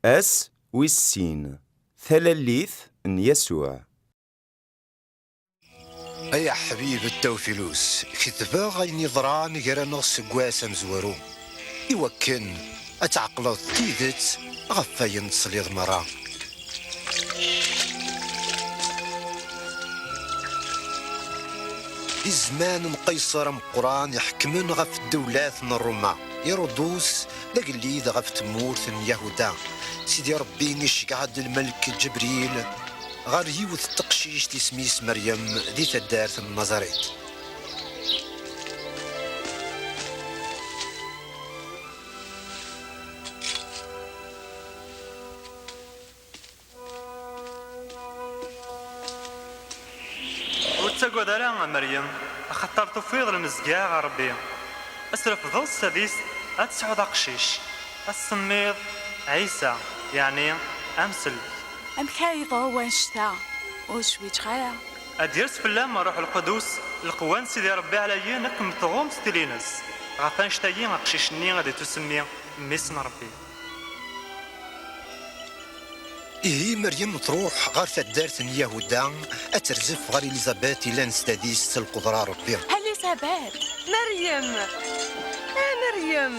Ass wis sin, talalit n Yasuɛ. Ay aḥbib n Tawfilus, ketbeɣ ayen yeḍran gar-aneɣ seg wass amezwaru, i wakken ad tɛeqleḍ tidet ɣef wayen tesliḍ merra, Di zzman n Qaysar ameqqran iḥekmen ɣef ddewlat n Ruma, Irudus d agellid ɣef tmurt n Yahuda. Sidi Rebbi iceggeɛ-d lmelk Ǧebril ɣer yiwet n teqcict isem-is Meryem di taddart n Nazarit. Ur ttagad ara a Meryem, axaṭer tufiḍ lemzeyya ɣer Rebbi. A s-trefdeḍ s tadist, a tesɛuḍ aqcic, a s-tsemmiḍ Ɛisa, yeɛni Amsellek. Amek ara yeḍru wanect-a? Ur zwiǧeɣ ara. A d-yers fell-am Rruḥ Lqudus, lqewwa n Sidi Rebbi ɛlayen akken tɣumm ttilin-s. Ɣef annect-agi aqcic-nni ad ittusemmi Mmi-s n Rebbi. Ihi Meryem truḥ ɣer taddart n Yahuda ad terzef ɣer Elizabeth yellan s tadist s lqedra n Rebbi. Elizabeth! Meryem! A Meryem!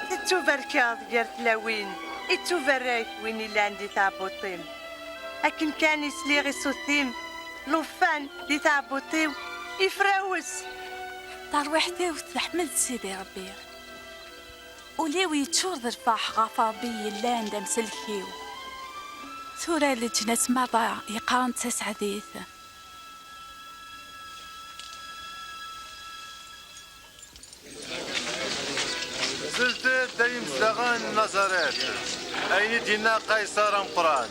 Tettubarkeḍ gar tlawin, ittubarek win yellan di tɛebbuṭ-im. Akken kan i sliɣ i ṣṣut-im, llufan di tɛebbuṭ-iw ifrawes. Tarwiḥt-iw teḥmed Sidi Ṛebbi. Ul-iw yeččur d lfeṛḥ ɣef Ṛebbi yellan d amsellek-iw. Tura leǧnas meṛṛa yeqqaren taseɛdit. Zelt-d ay imezdaɣen n Nazaret, ayen i d-yenna Qayṣer ameqqran.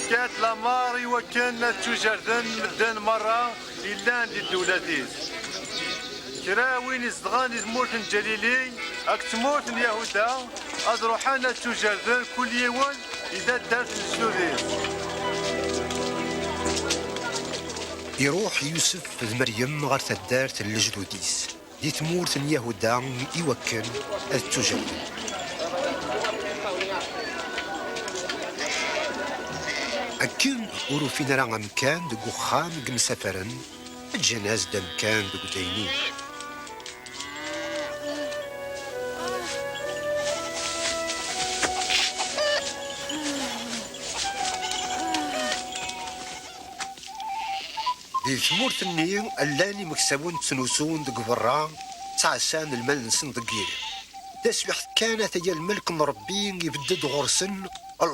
Fket lameṛ i wakken ad ttujerden medden meṛṛa Yellan di ddewlat-is. Kra win izedɣen di tmurt n Ǧalili akked tmurt n Yahuda ad ruḥen ad ttujerden kul yiwen i taddart n lejdud-is. Iruḥ Yusef d Meryem ɣer taddart n lejdud-is. Di tmurt n Yahuda i wakken ad ttujehden. Akken ur ufin ara amkan deg uxxam i yemsafaren, ǧǧan-as-d amkan deg uddaynin. Di tmurt-nni llan imeksawen ttnusun deg berra, ttɛassan lmal-nsen deg yiḍ. Taswiḥt kan ata-ya lmelk n Rebbi ibedd-d ɣur-sen,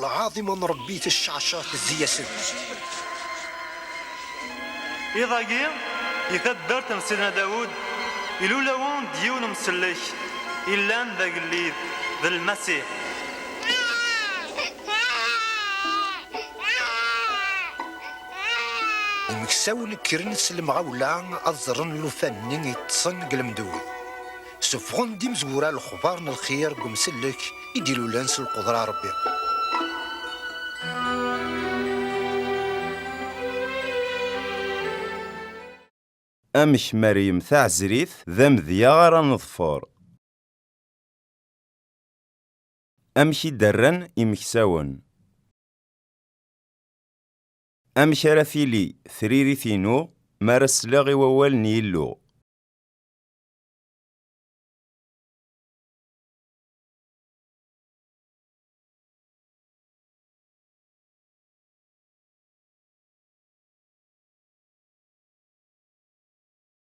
lɛaḍima n Rebbi tecceɛceɛ tezzi-yasen. Iḍ-agi, di taddart n Sidna Dawed, ilul-awen-d yiwen umsellek illan d agellid, d Lmasiḥ. Imeksawen kkren s lemɣawla ad ẓren llufan-nni yeṭṭsen deg lemdud. Suffɣen-d imezwura lexbar n lxir deg umsellek i d-ilulen s lqudra n Rebbi. Amek Meryem Taɛezrit d amedya ara neḍfer? Amek i d-rran imeksawen? Amek ara tili tririt-inu mi ara sleɣ i wawal n Yillu?